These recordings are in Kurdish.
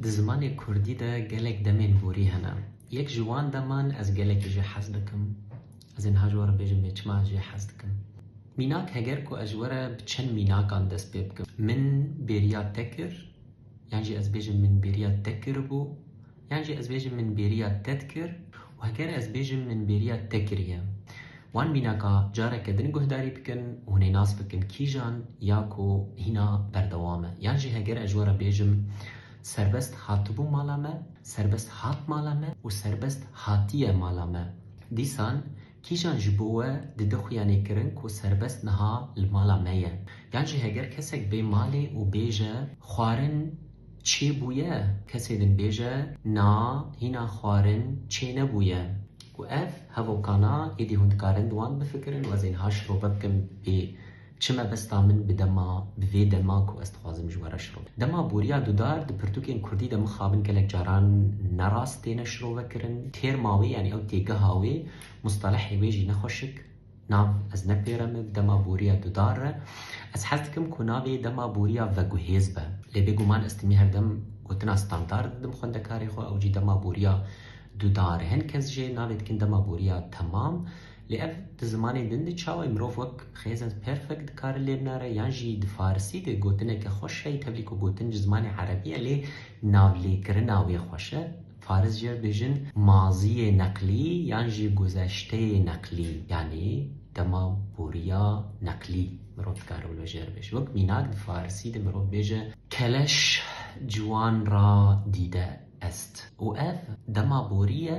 Di zimanê kurdî de gelek demên vorî hene. Yek ji wan deman ez gelekî jê hez dikim. Ez ê niha ji we re bêjim lê çima ez jê hez dikim. Mînak heger ku ez ji we re bi çend mînakan dest pê bikim. Min bêriya te kir, yan jî ez bêjim min bêriya te kiribû, yan jî ez bêjim min bêriya te dikir. Heger ez bêjim min bêriya te kiriye. Wan mînaka careke din guhdarî bikin û hûn ê nas bikin kîjan ya ku hîna berdewam e. Yan jî heger ez ji we re bêjim serbest hatibû mala me, serbest hat mala me û serbest hatiye mala me. Dîsan kîjan ji bo we dide xuya nêkirin ku serbest niha li mala me ye. Yan jî heger kesek bê malê û bêje xwarin, Çêbûye, kesê din bêje na hîna xwarin çênebûye. Ku ev hevokana êdî hûn dikarin di wan bifikirin û ez ên ha şirobe bikim bê çi mebesta min bi dema bi vê dema ku ez dixwazim ji we re şirobe. Dema boriya dudar di pirtûkên kurdî de mixabin gelek caran ne rast têne şirovekirin. Têrma wê yanî ew têgeha wê mustelehê wê jî ne xweşik Nav ez nepêre min dema boriya dudar e. Ez hez dikim ku navê dema boriya veguhêz be. Lê bêguman ez timî her dem gotina standard didim xwendekarê xwe ew jî dema boriya dudar e. Hin kes jê navê dikin dema boriya temam. Lê ev di zimanên din de çawa ye? Mirov wek present perfect dikare lê binare yan jî di farisî de gotineke xweş heye tevlî ku gotin ji zimanê erebî ye lê navlêkirina wê xweş e. Faris jê bêjin maziyê neqlî yan jî guzeşteyê neqlî yanî dema boriya neqlî mirov dikare wilo jê re bêje. Wek mînak di farisî de mirov bêje keleş ciwan ra dîde est û ev dema borî ye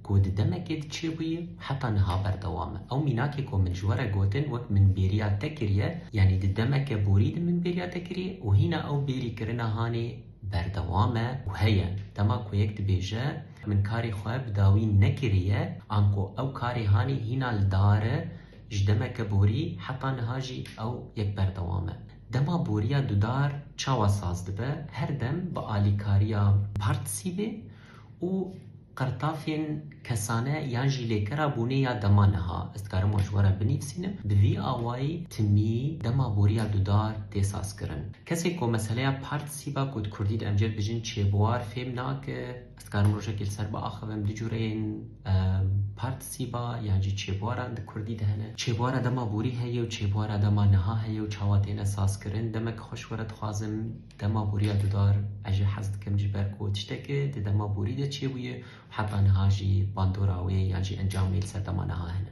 ku di demekê de çêbûye û heta niha berdewam e. Ew mînakê ku min ji we re gotin wek min bêriya te kiriye yanî di demeke borî de min bêriya te kiriye û hîna ew bêrî kirina hanê berdewam e û heye. Dema ku yek dibêje min karê xwe bi dawî nekiriye, anko ew karê hanî hîna li dar e, ji demeke borî heta niha jî ew yek berdewam e. Dema boriya dudar çawa saz dibe, her dem bi alîkariya partisî bê û Qirtafên kesane yan jî lêkera bûnê ya dema niha, ez dikarim wan ji we re binivîsînim, bi vî awayî timî dema boriya dudar tê sazkirin. Kesê ku meseleya part sîba ku di kurdî de em jê bijin çêbuar fêm nake, ez dikarim rojekê li ser biaxivim du cureyên part sîba yan jî çêbuaran di kurdî de hene. Çêbuara dema borî heye û çêbuara dema niha heye û çawa têne sazkirin. Demek xweş were dixwazim. Dema boriya didar ez jî hez dikim ji ber ku tişteke di dema borî de çêbûye û heta niha jî bandora wê yan jî encamê li ser dema niha hene.